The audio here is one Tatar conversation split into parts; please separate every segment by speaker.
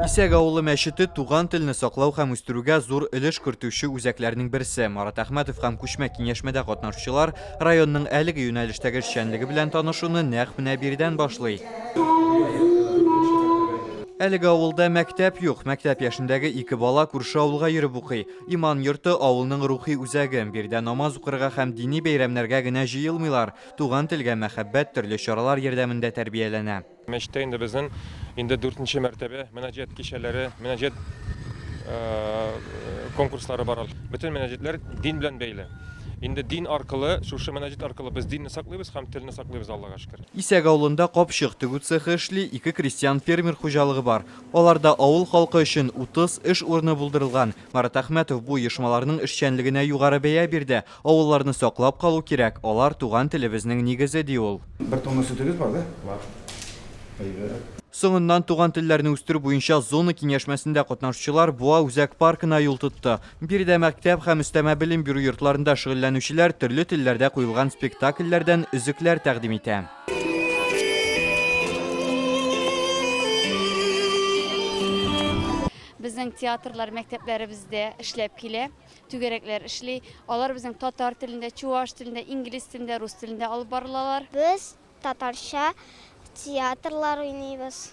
Speaker 1: Исәк авылы мәчете туган телне саклау һәм үстерүгә зур өлеш кертүче үзәкләрнең берсе. Марат Әхмәтов һәм күчмә киңәшмәдә катнашучылар районның әлеге юнәлештәге эшчәнлеге белән танышуны нәкъ менә биредән башлый. Әлеге авылда мәктәп юк. Мәктәп яшендәге ике бала күрше авылга йөреп укый. Иман йорты, авылның рухи үзәге. Биредә намаз укырга һәм дини бәйрәмнәргә генә җыелмыйлар. Туган телгә мәхәббәт төрле чаралар ярдәмендә тәрбияләнә. Мәчеттә инде безнең
Speaker 2: инде дүртенче мәртәбә мөнәҗәт кичәләре, мөнәҗәт конкурслары бара. Бөтен мөнәҗәтләр дин белән бәйле. Инде дин аркылы, шушы мөнәҗәт аркылы без динне саклыйбыз һәм телне саклыйбыз, Аллага шөкер. Исәк авылында
Speaker 1: капчык тегү цехы эшли, ике крестьян-фермер хуҗалыгы бар. Аларда авыл халкы өчен 30 эш урыны булдырылган. Марат Әхмәтов бу оешмаларның эшчәнлегенә югары бәя бирде. Авылларны саклап калу кирәк, алар, туган телебезнең нигезе, ди ул. Бер тонна сөтегез бар,
Speaker 3: да? Бар. Әйбәт. Соңыннан
Speaker 1: туган телләрне үстерү буенча зона киңәшмәсендә катнашучылар Буа үзәк паркына юл тотты. Биредә мәктәп һәм өстәмә белем бирү йортларында шөгыльләнүчеләр төрле телләрдә куелган спектакльләрдән өзекләр тәкъдим итә.
Speaker 4: Безнең театрлар мәктәпләребездә эшләп килә, түгәрәкләр эшли. Алар безнең татар телендә, чуваш телендә, инглиз телендә, рус телендә алып барылалар. Без
Speaker 5: татарча театрлар уйныйбыз.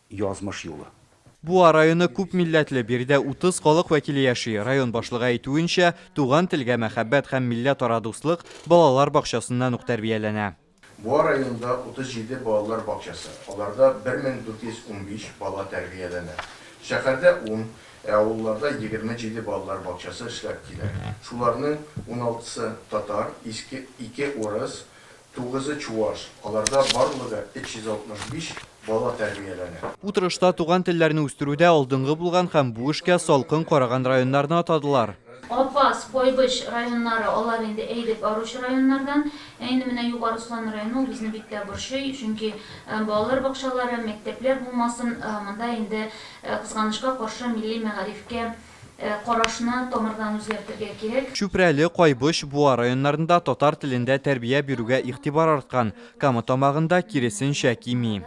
Speaker 3: язмыш юлы. Буа районы
Speaker 1: күп милләтле, биредә 30 халык вәкиле яши. Район башлыгы әйтүенчә, туган телгә мәхәббәт һәм милләтара дуслык балалар бакчасыннан ук тәрбияләнә. Буа районында
Speaker 6: 37 балалар бакчасы, аларда 1415 бала тәрбияләнә. Шәһәрдә ун, ә авылларда 27 балалар бакчасы эшләп килә. Шуларның уналтысы, татар, ике, урыс, Тугызы чуаш, аларда барлыгы 365 бала тәрбияләнә. Утырышта туган
Speaker 1: телләрне үстерүдә алдынгы булган һәм бу эшкә салкын караган районнарны атадылар. Апас,
Speaker 7: Койбыч районнары, алар инде әйдәп баручы районнардан. Ә инде менә Югары Ослан районы ул безне бик тә борчый, чөнки балалар бакчалары, мәктәпләр булмасын, монда инде, кызганычка каршы, милли мәгарифкә Карашны тамырдан үзгәртергә кирәк. Чүпрәле, Кайбыч,
Speaker 1: Буа районнарында татар телендә тәрбия бирүгә игътибар арткан, Кама Тамагында, киресенчә, кими.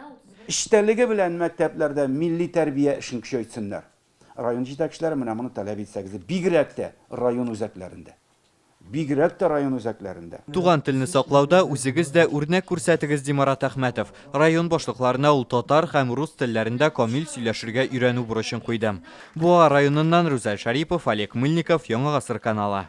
Speaker 1: Эчтәлеге
Speaker 3: белән мәктәпләрдә милли тәрбия эшен көчәйтсеннәр. Район җитәкчеләре менә моны таләп итсәгез, бигрәк тә район үзәкләрендә. бигрәк тә район үзәкләрендә. Туган телне саклауда
Speaker 1: үзегез дә үрнәк күрсәтегез, ди Марат Әхмәтов. Район башлыкларына ул татар һәм рус телләрендә камил сөйләшергә өйрәнү бурычын куйды. Буа районыннан Рүзәл Шарипов, Олег Мыльников, Яңа гасыр каналы.